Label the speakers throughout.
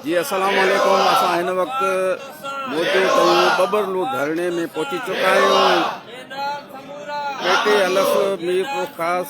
Speaker 1: جي السلام عليڪم اسان هن وقت موجو ڪيون ببر لو ڌرڻي ۾ پهچي چڪا آهيون پيٽي الف مير خاص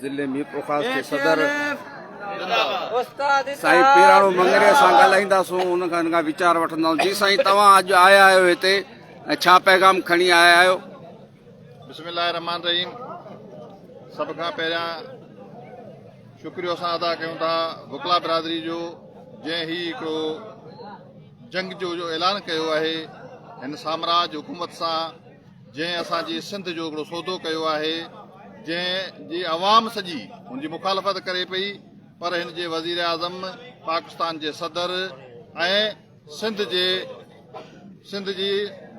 Speaker 1: ضلعي ميرپورخاص جي صدر سائين پيراڻو منگري سان ڳالهائينداسون ان کان ان کان ويچار وٺنداسون جي سائين توهان اڄ آيا آهيو هتي ۽ ڇا پيغام کڻي آيا آهيو بسم
Speaker 2: الله الرحمن الرحيم سڀ کان پهريان شڪريو اسان ادا ڪيون ٿا وڪلا برادري جو جنهن هي هڪڙو جنگ جو جو اعلان ڪيو آهي هن سامراج حڪومت سان جنهن اسان جي سنڌ جو هڪڙو سودو ڪيو آهي جنهن جي عوام سڄي هن جي مخالفت ڪري پئي پر هن جي وزيراعظم پاڪستان جي صدر ۽ سنڌ جي سنڌ جي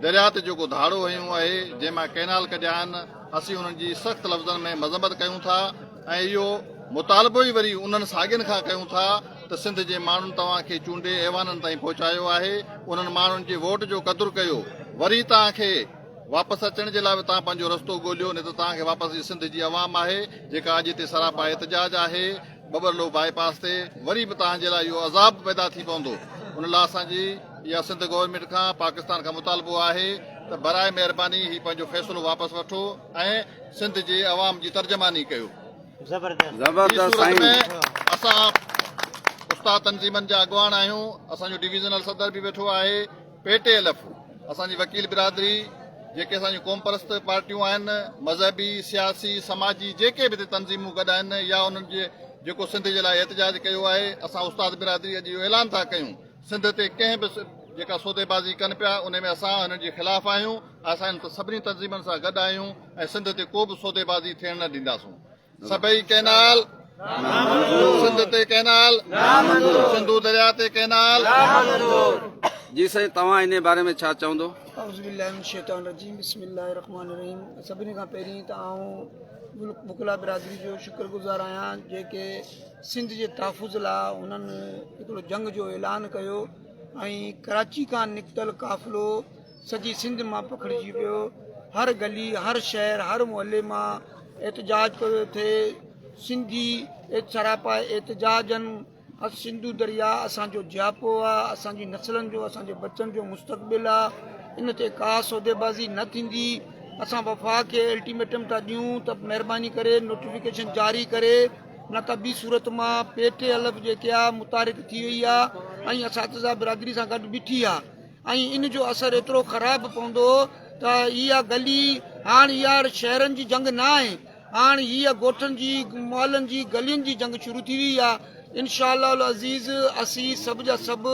Speaker 2: درياء تي جيڪو ڌاڙو هنيو آهي جنهن مان ڪئنال ڪڍيا آهن اسين انهن جي سخت لفظن ۾ مذمت ڪيون ٿا ۽ اهو مطالبو ئي وري انهن ساڳين کان ڪيون ٿا ته سنڌ جي ماڻهن توهان کي چونڊي ايوانن تائين پهچايو آهي، انهن ماڻهن جي ووٽ جو قدر ڪيو، وري توهان کي واپس اچڻ جي لاء به توهان پنهنجو رستو ڳوليو، نه ته توهان کي واپس جي سنڌ جي عوام آهي، جيڪا اڄ هتي سراپا احتجاج آهي، ٻٻرلو باء پاس تي وري به توهان جي لاء اهو عذاب پيدا ٿي پوندو، ان لاء اسان جي اها سنڌ گورنمينٽ کان پاڪستان کان مطالبو آهي ته براء مهرباني هي پنهنجو فيصلو واپس وٺو ۽ سنڌ جي عوام جي ترجماني ڪيو. زبردست زبردست سائين. هي صورت ۾ اسان استاد تنظيمن جا اڳواڻ آهيون اسان جو ڊويزنل صدر به ويٺو آهي پي ٽي ايل ايف اسان جي وڪيل برادري جيڪي اسان جون قوم پرست پارٽيون آهن مذهبي سياسي سماجي جيڪي به تنظيمون گڏ آهن يا انهن جي جيڪو سنڌ جي لاء احتجاج ڪيو آهي اسان استاد برادري اڄ اهو اعلان ٿا ڪيون سنڌ تي ڪنهن به جيڪا سوديبازي ڪن پيا ان ۾ اسان انهن جي خلاف آهيون اسان انهن سڀني تنظيمن سان گڏ آهيون ۽ سنڌ تي ڪو به سوديبازي ٿيڻ نه ڏينداسون سڀئي ڪئنال سنڌ تي ڪئنال سنڌو درياء تي ڪئنال
Speaker 1: جي سائين توهان ان باري ۾ ڇا چوندو اعوذ بالله من الشيطان الرجيم بسم الله
Speaker 3: الرحمن الرحيم سڀني کان پهرين ته آئون مڪلا برادري جو شڪر گذار آهيان جيڪي سنڌ جي تحفظ لاء انهن هڪڙو جنگ جو اعلان ڪيو ۽ ڪراچي کان نڪتل قافلو سڄي سنڌ مان پکڙجي ويو هر گلي هر شهر هر محلي مان احتجاج پيو ٿئي سنڌي سراپا احتجاجن سنڌو دريا اسان جو جياپو آ اسان جي نسلن جو اسان جي بچن جو مستقبل آ ان تي ڪا سوديبازي نه ٿيندي اسان وفاق کي الٽيميٽم ٿا ڏيون ته مهرباني ڪري نوٽيفڪيشن جاري ڪري نه ته ٻي صورت مان پيٽي الف جيڪي آ متارڪ ٿي وئي آ ۽ اساتذه برادري سان گڏ بيٺي آ ۽ ان جو اثر ايترو خراب پوندو ته اها گلي هاڻ اها شهرن جي جنگ نه آهي هاڻ هيء ڳوٺن جي محلن جي گلين جي جنگ شروع ٿي وئي آ انشاء الله العزيز اسين سڀ جا سڀ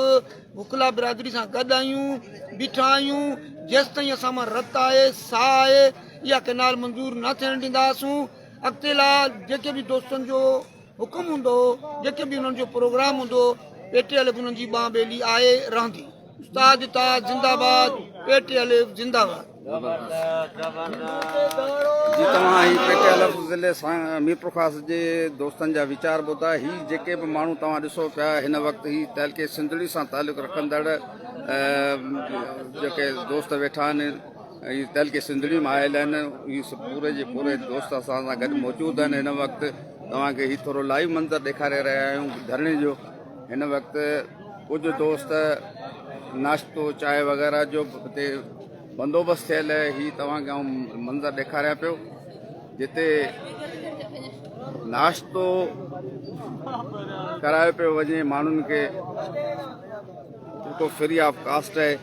Speaker 3: وڪلا برادري سان گڏ آهيون بيٺا آهيون جيستائين اسان مان رت آهي ساهه آهي اها ڪئنال منظور نه ٿيڻ ڏينداسون اڳتي لاء جيڪي به دوستن جو حڪم هوندو جيڪي به انهن جو پروگرام هوندو پي ٽي الف انهن جي ٻانهن ٻيلي آهي رهندي استاد تا زنده باد پي ٽي الف زنده باد
Speaker 1: جي توهان هي پي ٽي الف ضلعي ميرپور خاص جي دوستن جا ويچار ٻڌا هي جيڪي به ماڻهو توهان ڏسو پيا هن وقت هي تعلقي سنڌڙي سان تعلق رکندڙ جيڪي دوست ويٺا آهن ۽ دل کي سنڌڙي مان آيل آهن هي سڀ پوري جي پوري دوست اسان سان گڏ موجود آهن هن وقت توهان کي هي ٿورو لائيو منظر ڏيکاري رهيا آهيون ڌرڻي جو هن وقت ڪجهه دوست ناشتو چاهه وغيرہ جو هتي بندوبست ٿيل آهي هي توهان کي منظر ڏيکاريا پيو جتي ناشتو ڪرايو پيو وڃي ماڻهن کي جيڪو فري آف ڪاسٽ آهي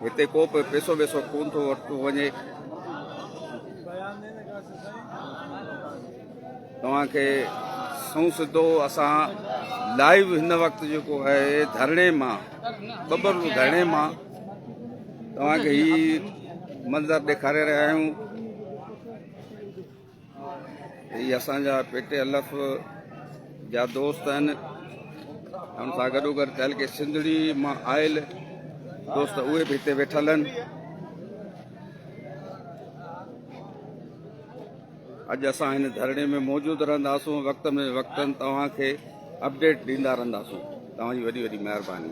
Speaker 1: هتي ڪو به پيسو ويسو ڪون ٿو ورتو وڃي. توهان کي سنئون سڌو اسان لائيو هن وقت جيڪو آهي ڌرڻي مان ٻٻر ڌرڻي مان توهان کي هي منظر ڏيکاري رهيا آهيون. هي اسان جا پي ٽي ايل ايف جا دوست آهن ان سان گڏوگڏ تحلڪي سنڌڙي مان آيل دوست اهي به هتي ويٺل آهن اڄ اسان هن ڌرڻي ۾ موجود رهنداسون وقت ۾ وقتن توهان کي اپڊيٽ ڏيندا رهنداسون توهان جي وڏي وڏي مهرباني